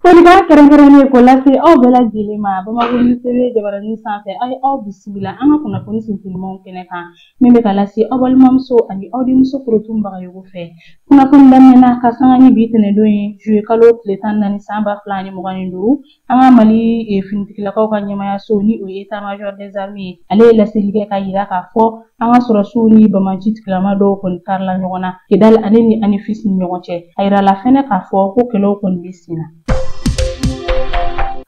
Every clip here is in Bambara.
Folikan kɛrɛnkɛrɛnnen ko lase aw bɛɛ lajɛlen ma Bamakɔ News TV jabaranin sanfɛ a ye aw bisimila an ka kunnafoni sinsinnimaw kɛnɛ kan min bɛ ka lase aw balimamuso ani aw denmuso korotun bagayogo fɛ kunnafoni daminɛ na ka sanga ni bi tɛnɛndon ye juillet kalo tile tan ni naani san ba fila ani mugan ni duuru an ka Mali finitigilakaw ka ɲɛmayaso ni o ye état major des armées ye ale ye laseli kɛ k'a yira k'a fɔ an ka sɔrɔsiw ni banbaanci tigilama dɔw kɔni karila ɲɔgɔn na kidali ale ni anefisi ni ɲɔgɔn cɛ a yirala fɛnɛ k'a fɔ ko kɛlɛw kɔni bɛ sen na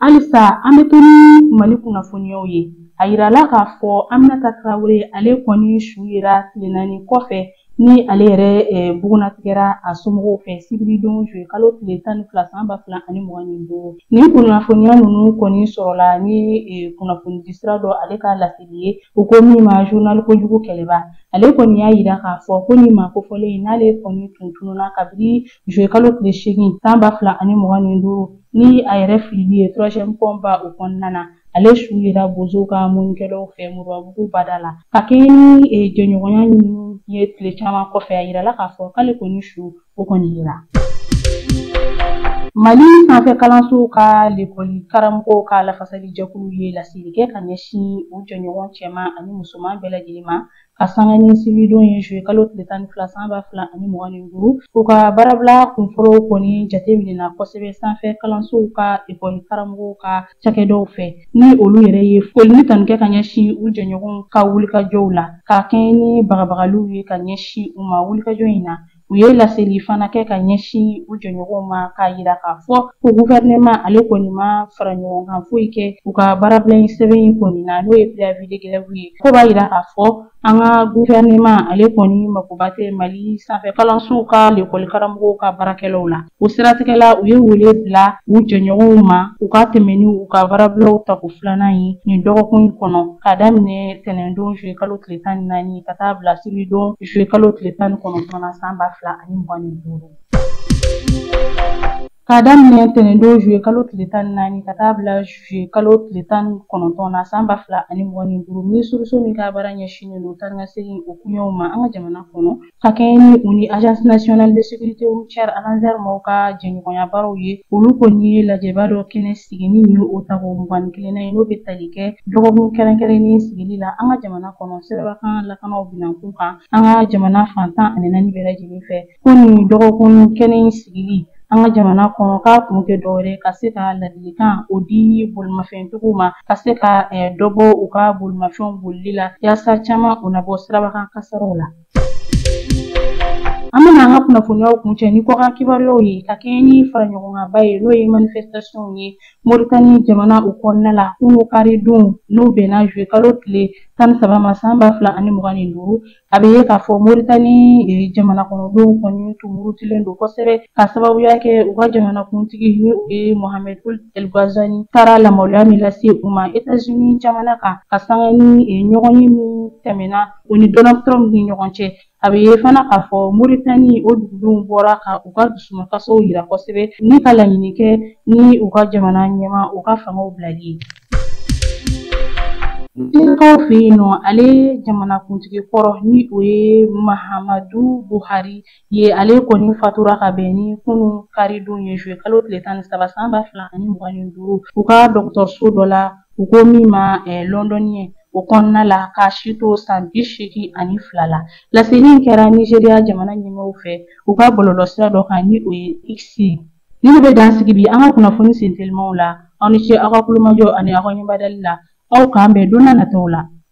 halisa an bɛ to ni mali kunnafoniyaw ye a yirala k'a fɔ aminata tarawele ale kɔni su yera tile naani kɔfɛ ni ale yɛrɛ bugunnatigɛra a somɔgɔw fɛ sibiridon juillet kalo tile tan ni fila san ba fila ani mugan ni duuru nin kunnafoniya ninnu kɔni sɔrɔla ni kunnafonidi sira dɔ ale ka lase ye u ko min ma journal kojugu kɛlɛbaa ale kɔni y'a yira k'a fɔ ko nin maa kofɔlen in n'ale kɔni tun tununa kabini juillet kalo tile seegin san ba fila ani mugan ni duuru ni a yɛrɛ filili ye troisième pont ba o kɔnɔna na ale su yera bozow ka mɔnnikɛlaw fɛ moribabugu bada la ka kɛɲɛ ni e, jɛɲɔgɔnya ɲinini ye tile caman kɔfɛ a yirala k'a fɔ k'ale kɔni su o kɔni yera mali sanfɛ kalansow ka lekɔli karamɔgɔw ka lafasali jɛkulu ye laseli kɛ ka ɲɛsin u jɛɲɔgɔn cɛman ani musoman bɛɛ lajɛlen ma ka sanga ni sibiridon ye juillet kalo tile tan ni fila san ba fila ani mugan ni duuru u ka baarabila kunfɔlɔw kɔni jate minɛna kosɛbɛ sanfɛ kalansow ka lekɔli karamɔgɔw ka cakɛdaw fɛ ni olu yɛrɛ ye foli ni tanu kɛ ka ɲɛsin u jɛɲɔgɔnw ka wulikajɔw la ka kɛɲɛ ni bagabagaliw ye ka ɲɛsin u ma wulikajɔ in na U ye laseli fana kɛ ka ɲɛsin u jɛɲɔgɔnw ma k'a yira k'a fɔ ko guvɛrɛnɛma ale kɔni ma fara ɲɔgɔn kan foyi kɛ u ka baarabila in sɛbɛn in kɔni na n'o ye préavis de grève ye ko b'a yira k'a fɔ an ka guvɛrɛnɛma ale kɔni makoba tɛ mali sanfɛ kalansow ka lekɔlikaramɔgɔw ka baarakɛlaw la O siratigɛ la u ye wele bila u jɛɲɔgɔnw ma u ka tɛmɛ ni u ka baarabilaw tako filanan ye nin dɔgɔkun in kɔnɔ ka daminɛ tɛnɛndon juillet kalo tile tan ni naani ka taa bila sibiridon juillet kalo tile tan ni kɔnɔntɔn na san ba fila ani mugan ni duuru K'a daminɛ tɛnɛndon juillet kalo tile tan ni naani ka taa bila juillet kalo tile tan ni kɔnɔntɔn na san ba fila ani mugan ni duuru minisiriso min ka baara ɲɛsinnen don taanikasegin o kuɲɛw ma an ka jamana kɔnɔ ka kɛɲɛ ni u ni agence nationale de sécurité routière ANASER maaw ka jɛɲɔgɔnya baaraw ye olu kɔni ye lajɛba dɔ kɛnɛ sigi ni nin ye o tako mugan ni kelennan ye n'o bɛ tali kɛ dɔgɔkun kɛrɛnkɛrɛnnen sigili la an ka jamana kɔnɔ sirabakan lakanaw binankun kan an ka jamana fan tan ani naani bɛɛ lajɛlen fɛ ko nin dɔgɔkun kɛnɛ in sigili an ka jamana kɔnɔ k'a kun tɛ dɔwɛrɛ ka se ka ladilikan o di bolimafɛntigiw ma ka se ka dɔ bɔ u ka bolimafɛnw bolili la yaasa caman u na bɔ sirabakan kasaraw la An bɛna an ka kunnafoniyaw kuncɛ ni kɔkan kibaruyaw ye ka kɛɲɛ ni faraɲɔgɔnkanba ye n'o ye manifestation ye Mauritanie jamana o kɔnɔna la kunun karidon n'o bɛnna juillet kalo tile tan ni saba ma san ba fila ani mugan ni duuru a bɛ ye k'a fɔ Mauritanie jamanakɔnɔdenw kɔni tun murutilen don kosɛbɛ ka sababuya kɛ u ka jamanakuntigi n'o ye Mohamed Ould El Ghazouani taara lamaloya min lase u ma Etats-Unis jamana kan ka sanga ni ɲɔgɔnye min tɛmɛna O ni Donald Trump ni ɲɔgɔn cɛ a bɛ ye fana k'a fɔ moritani o dugudenw bɔra ka u ka dusumakasaw yira kosɛbɛ ni ka laɲini kɛ ni u ka jamana ɲɛmaa u ka fangaw bilali ye Denkaw fɛ yen nɔ ale jamanakuntigi kɔrɔ ni o ye mahamadu buhari ye ale kɔni fatura ka bɛn ni kunun karidon ye juillet kalo tile tan ni saba san ba fila ani mugan ni duuru u ka dɔgɔtɔrɔso dɔ la u ko min ma lɔndɔniyɛ o kɔnɔna la k'a si to san bi seegin ani fila la laseli in kɛra nizeriya jamana ɲɛmɔgɔw fɛ u ka bɔlɔlɔsira dɔ kan ni o ye x nin de bɛ dan sigi bi an ka kunnafoni sentelimaw la aw ni ce aw ka kulomajɔ ani aw ka ɲɛbadali la aw k'an bɛn don na nataw la